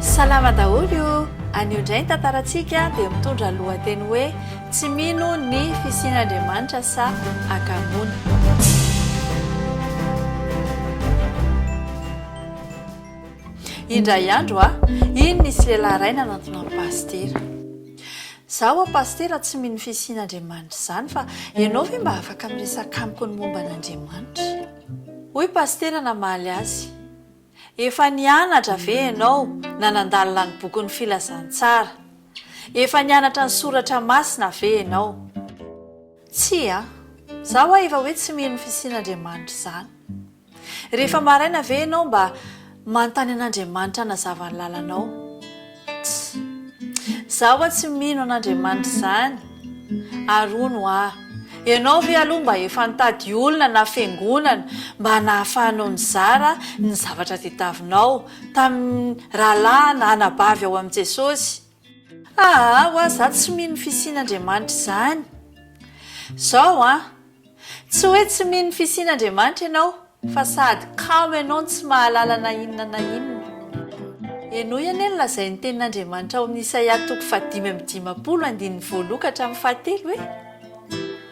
Salama daholo o! Anio indray ny tantarantsika dia mitondra ny lohateny hoe Tsy mino ny fisian'Andriamanitra sa Akamoana? Indray andro a! Iny nisy lehilahy iray nanantona an'i Pasitera. Izaho ho'a Pasitera tsy mino ny fisian'Andriamanitra izany fa ianao ve mba afaka miresaka amiko ny momba an'Andriamanitra? Hoy Pasitera namaly azy. Efa nianatra ve ianao na nandalina ny bokin'ny Filazantsara? Efa nianatra ny Soratra Masina ve ianao? Tsia. Za ho'a efa hoe tsy mino ny fisian'Andriamanitra izany. Rehefa maraina ve ianao mba. Manontany an'Andriamanitra hanazava ny lalanao. Tsy. Za ho'a tsy mino an'Andriamanitra izany. Ary hono ho'a, ianao ve aloha mba efa nitady olona na fiangonana mba nahafahanao nizara ny zavatra tediavinao tamin'ny rahalahy na anabavy ao amin'i Jesosy? Aa oa za tsy mino fisian Andriamanitra izany Zao an Tsy hoe tsy mino ny fisian Andriamanitra ianao fa sahady kamo ianao no tsy mahalala na inona na inona Henoy anie ny lazain'ny tenin'Andriamanitra ao amin'ny Isaia toko fahadimy amby dimampolo andininy voaloha ka hatramin'ny fahatelo hoe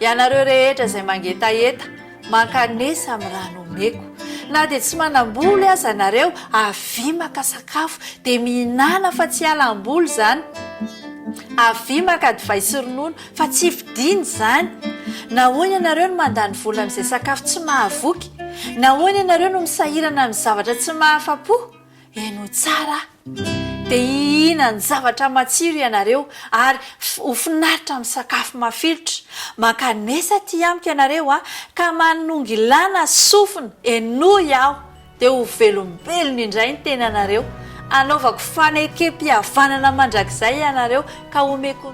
Ianareo rehetra izay mangetaheta, mankanesa amin'ny raha nomeko. Na dia tsy manam-boly aza nareo, avia maka sakafo, dia mihinàna fa tsy hiala am-boly izany. Avia maka divay sy ronono, fa tsy vidiana izany. Nahoana ianareo no mandany vola amin'izay sakafo tsy mahavoky? Nahoana ianareo no misahirana amin'ny zavatra tsy mahafa-po? Henoy tsara aho. Dia hihinany zavatra matsiro ianareo ary ho finaritra amin'ny sakafo mafilotra. Mankanesa aty amiko ianareo a, ka manongilana sofina, henoy aho, dia ho velombelona indray ny tenanareo. Hanaovako fanekempihavanana mandrakizay ianareo, ka homeko.